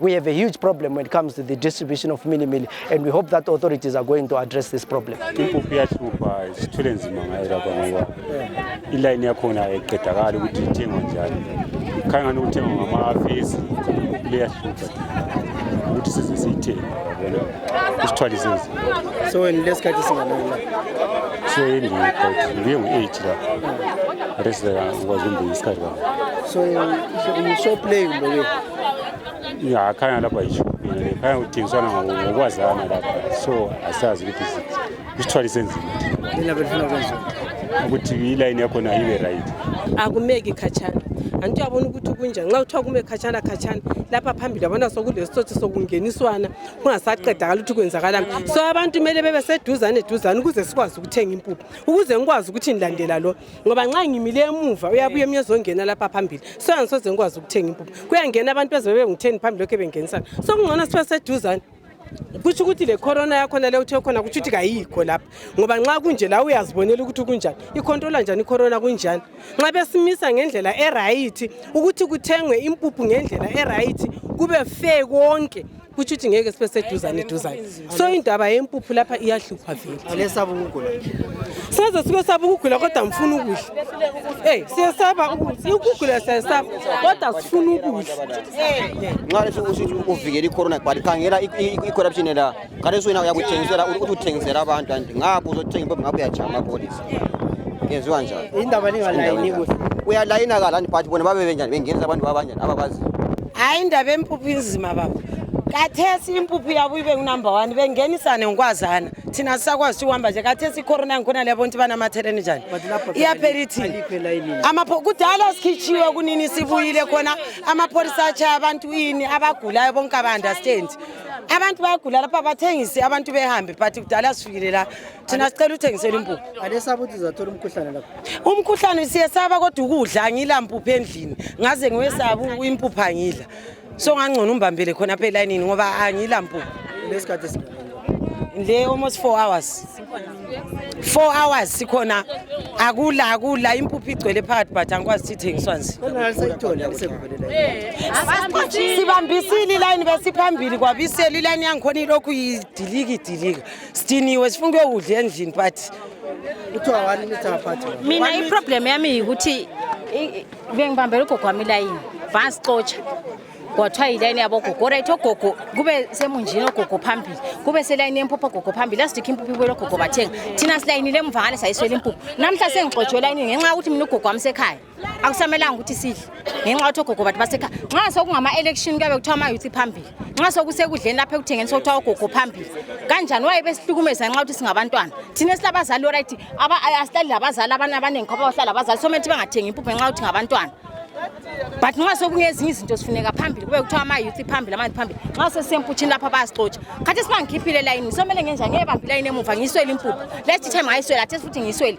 We have a huge problem when it comes to the distribution of mini meal, and we hope that authorities are going to address this problem. impuphu iyahlupha sithwele nzima ngayo lapha ngoba ilayini yakhona ayiqedakali ukuthi ithengwa njani khangani ukuthengwa ngamafesi impuphu liyahlupha ukuthi size siyithenge yabona usithwalise nzima So when less cut is in another. so yini but ngiye ngu-eight la rest ngikwazi umbeka isikhathi kakhulu So you so play with the way. ya khanya lapha yishubhile khanya kudingiswana ngokwazana lapha so asazi ukuthi isithwalo isenzima Nina belifuna kwenziwa. ukuthi ilayini yakhona ibe right akumeki khatshana anti uyabona ukuthi kunjani nxa kuthiwa kume khatshana khatshana lapha phambili yabona sokulesitsotsi sokungeniswana kungasaqedakala ukuthi kwenzakalani so abantu kumele bebe seduzane duzane ukuze sikwazi ukuthenga impuphu ukuze ngikwazi ukuthi ngilandela lo ngoba nxa ngimile emuva uyabuya emnye ezongena lapha phambili so angisoze ngikwazi ukuthenga impuphu kuyangena abantu ezebe bengitheni phambi lokhu bengenisana so kungcono sibe seduzane kutsho ukuthi le corona yakhona le uthe khona kutsho ukuthi kayikho lapha ngoba nxa kunje la uyazibonela ukuthi kunjani ikhontrola njani icorona kunjani nxa besimisa ngendlela erayithi ukuthi kuthengwe impuphu ngendlela erayithi kube fe konke kutsho ukuthi ngeke sibe seduzane duzane so indaba yempuphu lapha iyahlupha vele size sibe saba ukugula kodwa ngifuna ukudla eyi siyesaba ukugula siyesaba kodwa sifuna ukudla nxa lesi usithi uvikela i-corona but khangela i-corruption la kaleso wena uyakuthengisela ukuthi uthengisela abantu and ngapho uzothenga impombe ngapho uyajama polisi yenziwa njani indaba ningalayini kuhle uyalayina kalani but bona babe benjani bengenisa abantu babanjani abakwazi hayi indaba empuphu inzima baba kathesi impuphu yabo ibe ngunumber one bengenisane ngikwazana thina sisakwazi ukuthi uhamba nje kathesi icorona ngikhona liyabona ukuthi banamatheleni njani iyaphela ithini kudala sikhichiwe kunini sibuyile khona amapholisa atshaya abantu ini abagulayo bonke aba-understand abantu bayagula lapha bathengise abantu behambe but kudala sifikile la thina sicela uthengisela impuphu alesaba ukuthi uzathola umkhuhlane lapho umkhuhlane siyesaba kodwa ukudla angila mpuphu endlini ngaze ngiwesaba impuphu angidla so ngangcono umbambele khona apha elayinini ngoba angila mpuphu lesikhathi le almost four hours four hours sikhona akula akula impuphu igcwele phakathi but angikwazi ukuthi ithengiswa nje sibambisile ilayini besiphambili kwabisela ilayini yangikhona ilokhu idilika idilika sidiniwe sifuna ukuyokudla endlini but kuthiwa wani nithi abaphathi mina iproblem yami yikuthi bengibambela ugogo wami ilayini vasixotsha kwathiwa yilayini yabogogo orit ogogo kube semunjini ogogo phambili kube selayini yempuphu ogogo phambili asidikho impuphu ibuye logogo bathenga thina silayinile emvangane sayiswela impuphu namhla sengixotshwe elayinini ngenxa yokuthi mina ugogo wami sekhaya akusamelanga ukuthi sidle ngenxa yokuthi ogogo bathi basekhaya nxa sokungama-election kuyabe kuthiwa ama-youth phambili nxa sokusekudleni lapho ekuthengeni sokuthiwa ogogo phambili kanjani waye besihlukumeza ngenxa yokuthi singabantwana thina esilabazali oright asihlali labazali abanye abaningi khoba bahlala abazali somele ukuthi bangathengi impuphu ngenxa yokuthi ngabantwana but nxa sokungezinye izinto sifuneka phambili kube kuthiwa ama-youth phambili amanzi phambili nxa sesisemputshini lapha bayasixotsha khathi sibangikhiphile elayini somele ngenjani ngeyebambi ilayini emuva ngiyiswele impuphu last time ngayiswele athe futhi ngiyiswele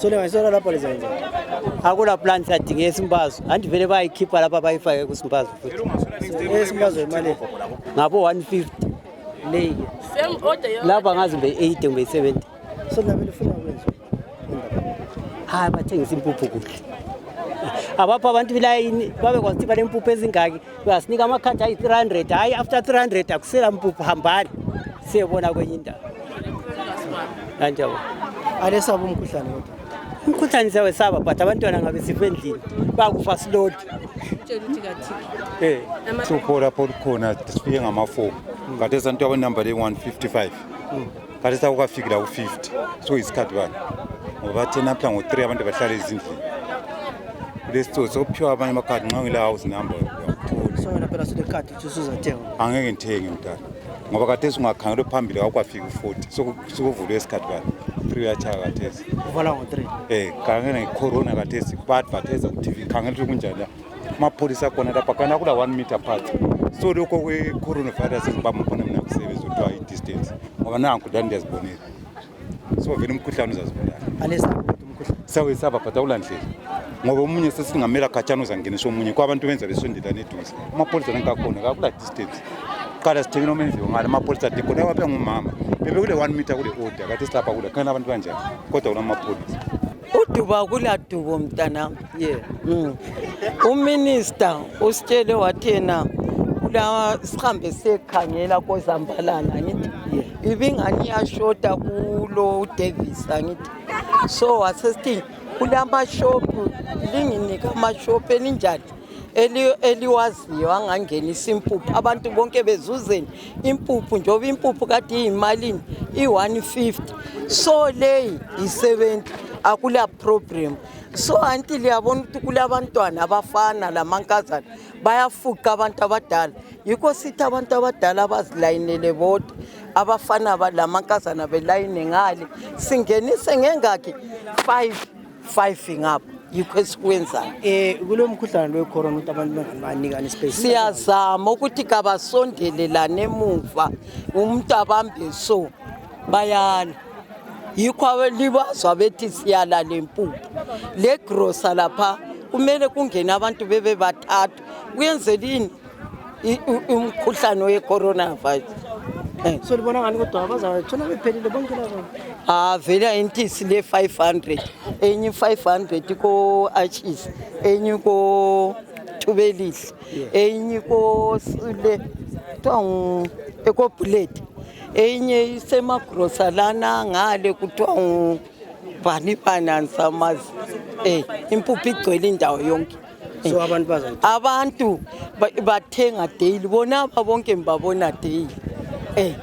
solengayisola lapha lizenza akula plan that ngesimbazo andivele bayikhipha lapha bayifake kusimbazo futhi esimbazo imali ngabo 150 leyi lapha ngazi mbe 80 kumbe 70 so nabe lifuna kwenza hayi bathengisa impuphu kuhle abapha abantu bilayini babekwazi ukuthi balempuphu ezingaki uyasinika amakhadi ayi-300 hayi after 300 akusela mpuphu hambani siyebona kwenye indawo anjabo alesaba umkhuhlane kodwa umkhuhlane siyawesaba but abantwana ngabe sife endlini bakufa silodi uphora pho lukhona sifike ngamafomu kade santu abanumber le-155 khathesi akukafikila ku-50 so isikhathi bani ngoba athe naphla ngo-3 abantu bahlala ezindlini kulesitsotsi sokuphiwa abanye amakhadi nxa ngile house number angeke ngithenge mdala ngoba khathesi ungakhangelwe phambili kakwafika u-40 sokuvulwe isikhathi bani three yatshaya khathesi um eh, khangela ngecorona khathesi ba-advertise ku-tv khangela ukuthi kunjani mapurisa kona ta pakana kuda 1 meter apart so loko we coronavirus is bama pona mina kusebenza utwa i distance ngoba nanku dani ndiyazibonela so vele umkhuhlane uzazibulala alesa umkhuhlane sawe saba bhata ulandlela ngoba omunye sesingamela khatshana uzangenisa omunye kwabantu benza besondelane eduze amapholisa nankakhona kakula distance qala sithekile omenziwe ngale amapholisa athi khona waphe ngumama bebe kule one meter kule order kathi silapha kule khona abantu kanjani kodwa kula mapholisa uduba kula dubo mntanami Yeah. Mm. Uminister usitshele wathi yena kulawa sihambe siyekhangela kozambalana ngithi yeah. ibingani iyashota kulo Davis angithi so wasesithi kulamashophu linginika amashophu elinjani eli- eliwaziyo angangenisa impuphu abantu bonke bezuzeni impuphu njengoba impuphu kade iyimalini i-150 so leyi yi-70 akula problem so anti liyabona ukuthi kulabantwana abafana lamankazana bayafuqa abantu abadala yikho sithi abantu abadala abazilayinele bodwa abafana lamankazana belayine ngale singenise ngengakhi five five ngapha yikho esikwenzayo um kulo mkhuhlane lo wecorona ukuthi abantu banganikani space siyazama ukuthi kabasondelelane emuva umuntu abambe so bayala yikho abelibazwa bethi siyala lempuphu le grosa lapha kumele kungene abantu bebe bathathu kuyenzelini umkhuhlane we-coronavirus eh. so libona ngani kodwa bazawathola bephelile bonke laba ah vele ayintisi le 500 enye 500 ko-achis enye ko-thubelihle eyinye ikosile kuthiwa ngu-ecobuleti eyinye isemagrosa lana ngale kuthiwa ngubani bani andisamazi um impuphu igcwele indawo yonke so abantu bazayithenga abantu ba- bathenga daily bona aba bonke ngibabona daily um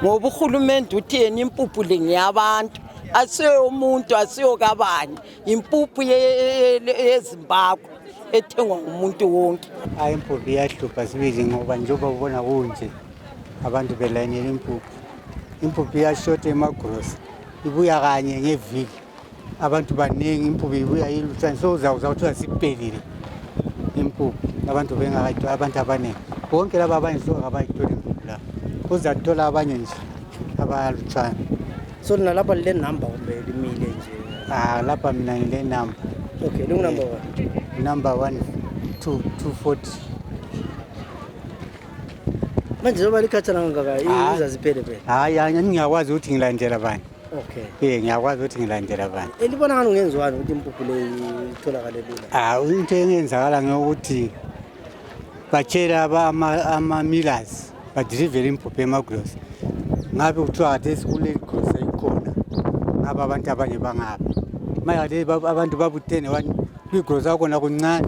ngoba urhulumente uthi yena impuphu le ngeyabantu asiyomuntu asiyokabani impuphu yezimbabwe ethengwa ngumuntu wonke hayi impuphu iyahlupha sibili ngoba njengoba ubona kunje abantu belayinela impuphu impuphu iyashota emagrosa ibuya kanye ngeviki abantu baningi impuphu ibuya ilutshani so uzawuza kuthiwa siphelile impuphu abantu bengakayitholi abantu abaningi bonke laba abanye so abayitholi impuphu la uzathola abanye nje abalutshani So nina lapha le number kumbe limile nje. Ah lapha mina ngile number. Okay, lungu number 1. Number 1 2 240. Manje zoba likhatha ngaka ah. izaziphele phela. Hayi, ah, ngiyakwazi ukuthi ngilandela bani. Okay. Eh ngiyakwazi ukuthi ngilandela bani. Elibona ngani ungenziwani ukuthi impuphu le itholakale lula? Ah, into engenzakala ngokuthi batshela ama ama millers but delivering impuphu emagrosa ngabe kuthiwa khathesi kulegrosa ikhona ngaba abantu abanye bangapha manje khathesi bab- abantu babuthene wani kwigrosa kwakhona kuncane